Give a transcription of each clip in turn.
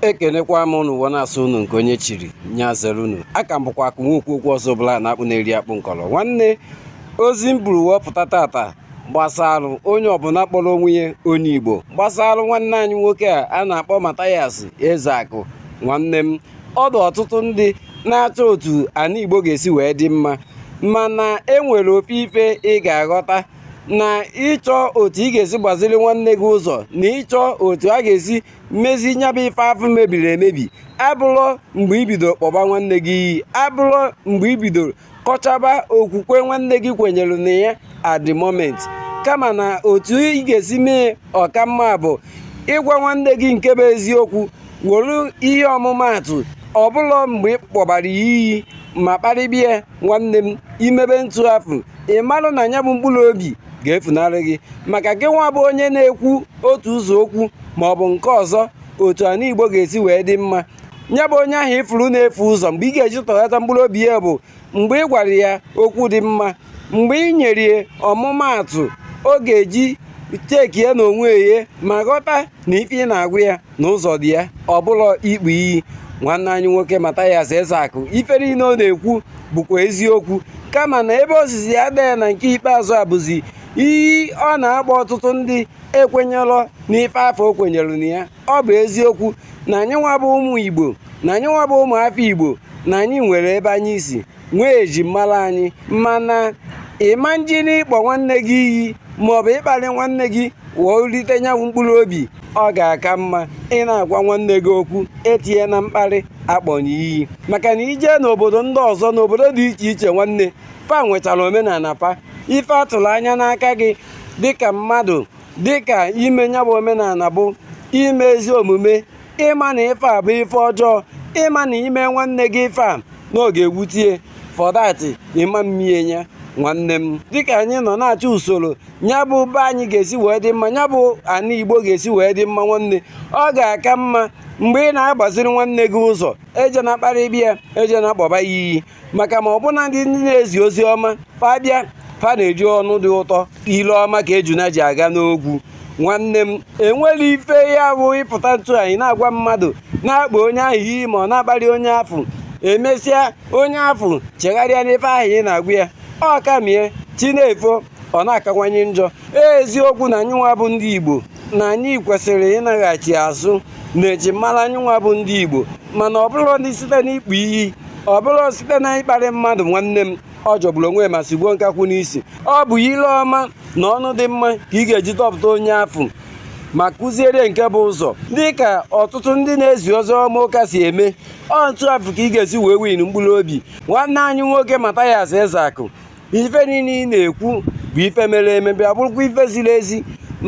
ekenekwa m unu ụwa na-asọ unu nke onye chiri nya zere unu aka m bụkwa akụ nwokwu okwu ọzọ bụla na akpụ na-eri akpụ nkọrọ nwanne ozi m buru wee pụta tata gbasara onye ọbụla kpọrọ onwe ya onye igbo gbasara nwanne anyị nwoke a a na-akpọ Mathias Ezeaku nwanne m ọ dị ọtụtụ ndị na-achọ otu ana igbo ga-esi wee dị mma mana enwere ofu ife ị ga-aghọta na ịchọ otu ị ga-esi gbaziri nwanne gị ụzọ na ịchọ otu a ga-esi mezi nya bụ ife afụ mebiri emebi abụlọ mgbe i bido kpọba nwanne gị iyi abụlọ mgbe i bido kọchaba okwukwe nwanne gị kwenyere na ya at the moment kama na otu ị ga-esi mee ọ ka mma bụ ịgwa nwanne gị nke bụ eziokwu were ihe ọmụmaatụ ọ bụlọ mgbe ị kpọbara ya iyi ma kparịba ya nwanne m i mebe ntụ afụ ị marụ na nya bụ mkpụrụ obi ga-efunarị gị maka gị nwa bụ onye na-ekwu otu ụzọ okwu ma ọ bụ nke ọzọ otu ana igbo ga-esi wee dị mma nya bụ onye ahụ ị fụrụ na-efu ụzọ mgbe ị ga-eji tọghata mkpụrụ obi ya bụ mgbe ị gwara ya okwu dị mma mgbe ị nyere ya ọmụmaatụ ọ ga-eji check ya na onwe ya ma ghọta na ife ị na-agwa ya na ụzọ dị ya ọ bụlọ ịkpọ iyi nwanne anyị nwoke Mathias Ezeaku ife niile ọ na-ekwu bụkwa eziokwu kama na ebe ozizi ya dee na nke ikpeazụ a bụzi iyi ọ na-akpọ ọtụtụ ndị ekwenyelọ n'ife afụ o kwenyere na ya ọ bụ eziokwu na anyị nwa bụ ụmụ Igbo na anyị nwa bụ ụmụ afọ Igbo na anyị nwere ebe anyị si nwee eji mara anyị mana ị ma njini ịkpọ nwanne gị iyi maọbụ ịkparị nwanne gị wee rite nya wụ mkpụrụ obi ọ ga-aka mma ị na-agwa nwanne gị okwu etinyena mkparị akpọna ya iyi maka na i je n'obodo ndị ọzọ n'obodo dị iche iche nwanne fa nwechara omenana fa ife atụrụ anya n'aka gị dịka mmadụ dịka ime nya bụ omenana bụ ime ezi omume ị ma na ife a bụ ife ọjọọ ị ma na i me nwanne gị ife a na ọ ga-ewute ya for that ị ma mme ya nwanne m dịka anyị nọ na-achọ usoro nya bụ be anyị ga-esi wee dị mma nya bụ ana igbo ga-esi wee dị mma nwanne ọ ga-aka mma mgbe ị na-agbaziri nwanne gị ụzọ ejena kparịba ya ejena kpọba ya iyi maka ma ọbụna ndị na-ezi ozi ọma fa bịa fa na-eji ọnụ dị ụtọ ile ọma ka ejuna ji aga n'ogwu nwanne m enwere ife ya bụ ị pụta ntụ anyị na-agwa mmadụ na-akpọ onye ahụ iyi ma ọ na-akparị onye afụ emesịa onye afụ chegharịa n'ife ahụ ị na-agwa ya ọ ka-eme ya chi na-efo ọ na-akawanye njọ eziokwu na anyịnwa bụ ndị Igbo na anyị kwesịrị ịnaghachi azụ na ejimara anyịnwa bụ ndị Igbo mana ọ bụrọdị site n'ịkpọ iyi ọ bụrọ site na ịkparị mmadụ nwanne m ọ jọgburu onwe ma sigbuo nkakwụ n'isi ọ bụ ile ọma na ọnụ dị mma ka ị ga-eji dọpụta onye afụ ma kụziere nke bụ ụzọ dị ka ọtụtụ ndị na-ezi ozi ọma ụka si eme ọ otu afụ ka ị ga-esi wee win mkpụrụ obi nwanne anyị nwoke Mathias Ezeaku ife niile ị na-ekwu bụ ife mere eme bịa bụrụkwa ife ziri ezi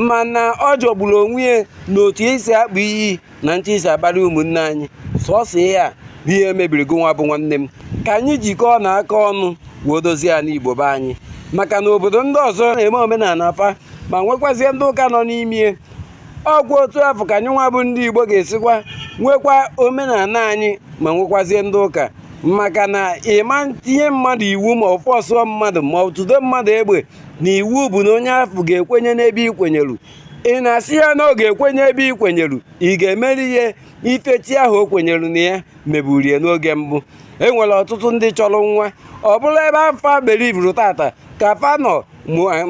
mana ọ jọgburu onwe ya na otu i si akpọ iyi na otu i si akparị ụmụnne anyị sọsọ ya bụ ihe mebiri gị nwa bụ nwanne m ka anyị jikọọ na aka ọnụ wee dozie ana Igbo be anyị maka na obodo ndị ọzọ na-eme omenala fa ma nwekwazie ndị ụka nọ n'ime ọ kwa otu afụ ka anyị nwa bụ ndị Igbo ga-esikwa nwekwa omenala anyị ma nwekwazie ndị ụka maka na ị ma tinye mmadụ iwu ma ọ fọsụọ mmadụ ma ọ tụdo mmadụ egbe na iwu bụ na onye afụ ga-ekwenye n'ebe ị kwenyelu ị na-asị ya na ọ ga-ekwenye ebe ị kwenyelu ị ga-emeri ihe ife chi ahụ o kwenyelu na ya meburu ya n'oge mbụ e nwere ọtụtụ ndị chọrọ nwa ọ bụrụ ebe afụ fa belivuru tata ka fa nọ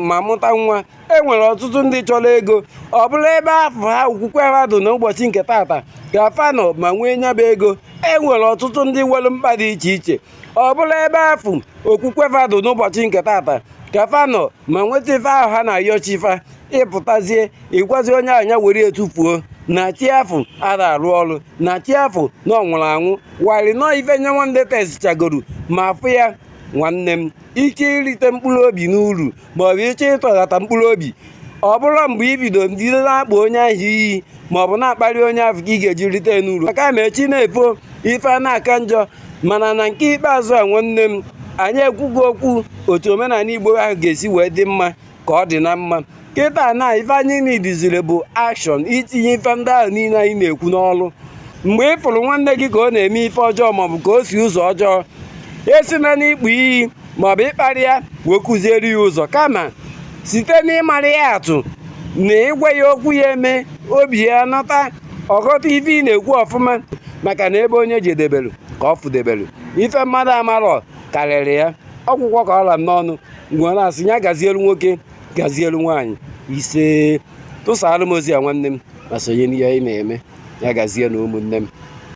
ma mụta nwa e nwere ọtụtụ ndị chọrọ ego ọ bụrụ ebe afụ ha okwukwe ha dị n'ụbọchị nke tata ka fa nọ ma nwee nya bụ ego e nwere ọtụtụ ndị nwere mkpa dị iche iche ọ bụrụ ebe afụ okwukwe ha dị n'ụbọchị nke tata ka fa nọ ma nweta ife ahụ ha na-ayọ chi fa ị pụtazie ịgwazi onye a nya were tufuo na chi afụ ara arụ ọrụ na chi afụ na ọ nwụrụ anwụ while na ọ ife nya nwa tesichagoro ma fụ ya nwanne m ike irite mkpụrụ obi n'uru ma ọ bụ ịchọ ịtọghata mkpụrụ obi ọ bụrọ mgbe i bido bido na-akpọ onye ahụ iyi ma ọ bụ na-akparị onye ahụ ka ị ga-eji rite n'uru kama chi na-efo ife a na-aka njọ mana na nke ikpeazụ a nwanne m anyị ekwugo okwu otu omenala igbo ahụ ga-esi wee dị mma ka ọ dị na mma kịta na ife anyị nidiziri bụ action itinye ife ndị ahụ niile anyị na-ekwu n'ọrụ mgbe ị fụrụ nwanne gị ka ọ na-eme ife ọjọọ maọbụ ka o si ụzọ ọjọọ esina n'ịkpọ iyi maọbụ ịkparị ya wee kụziere ya ụzọ kama site n'ịmara ya atụ na ịgwa ya okwu ya eme obi ya nọta ọ ghọta ife ị na-ekwu ọfụma maka na ebe onye jedebelu ka ọ fụdebelu ife mmadụ amarọ karịrị ya ọ gwụgo ka ọ ra m n'ọnụ m wee na-asị ya gazielu nwoke gazielu nwaanyị ise tụsara m ozi a nwanne m ma sonye n'ihe anyị na-eme ya gazie na ụmụnne m